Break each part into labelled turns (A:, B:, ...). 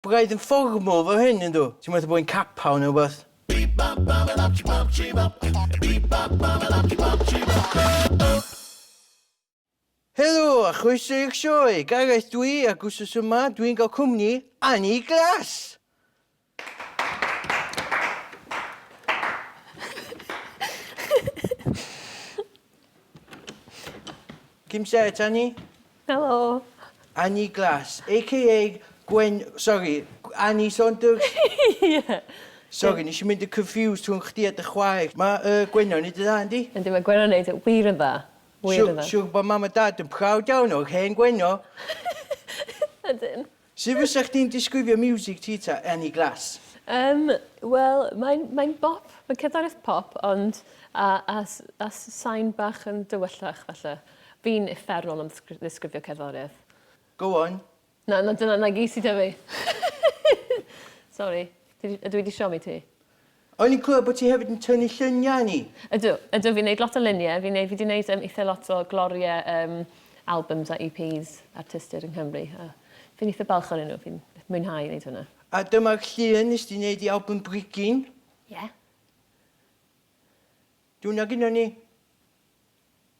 A: Braidd yn fformwr fo hyn, yndw? Ti'm methu bod yn capal neu rwbeth? Helo a chroeso i'r sioe! Gareth dw i ac wsos yma dw i'n cael cwmni Annie Glass! Cyn set, Annie?
B: Helo! Annie
A: Glass, aka Gwen... Sori, Annie Saunders? Ie!
B: Sori, nes i
A: mynd yn confused rhwng chdi a dy chwaer. Mae yy Gwenno yn neud yn dda, yndi? Yndi, mae Gwenno'n neud yn
B: wir yn dda. Wir yn dda. Siwr, siwr bod mam a dad yn
A: proud iawn o'r hen Gwenno!
B: Ydyn. Sut fysa
A: chdi'n disgrifio miwsig ti ta, Annie Glass? Yym, wel,
B: mae'n, mae'n bop, mae'n cerddoriaeth pop, ond a, a, a sain bach yn dywyllach, falle. Fi'n uffernol am ddisgrifio cerddoriaeth. Go on.
A: Na, na, dyna, na
B: gyd sy 'da fi. Sori. Dwi, ydw i 'di siomi ti? O'n i'n clywed
A: bod ti hefyd yn tynnu lluniau o'n i? Ydw, ydw, fi'n neud
B: lot o luniau, fi'n neud, fi di neud yym itha lot o glorie yym albums a EPs artistiaid yng Nghymru a fi'n itha balch o'nyn nhw, fi'n mwynhau neud hwnna. A dyma'r llun
A: nes di neud i album Brigyn. Ie. Dwna gynnon ni.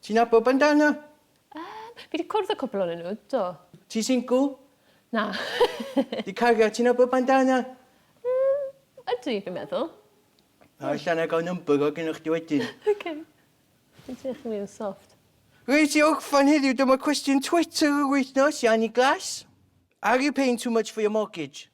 B: Ti'n nabod
A: Bandana? Yym, fi
B: 'di cwrdd â cwpl onyn nhw, do. Ti
A: single? Na.
B: Di
A: cariad, ti'n nabod Bandana? Yym,
B: ydy, fi'n meddwl. Na, ella
A: na i gael number o gynnwch chdi wedyn. Ok.
B: Ti'n teimlo chdi mwy soft. Reit, i orffan
A: heddiw, dyma cwestiwn Twitter yr wythnos, Yanni Glass. Are you paying too much for your mortgage?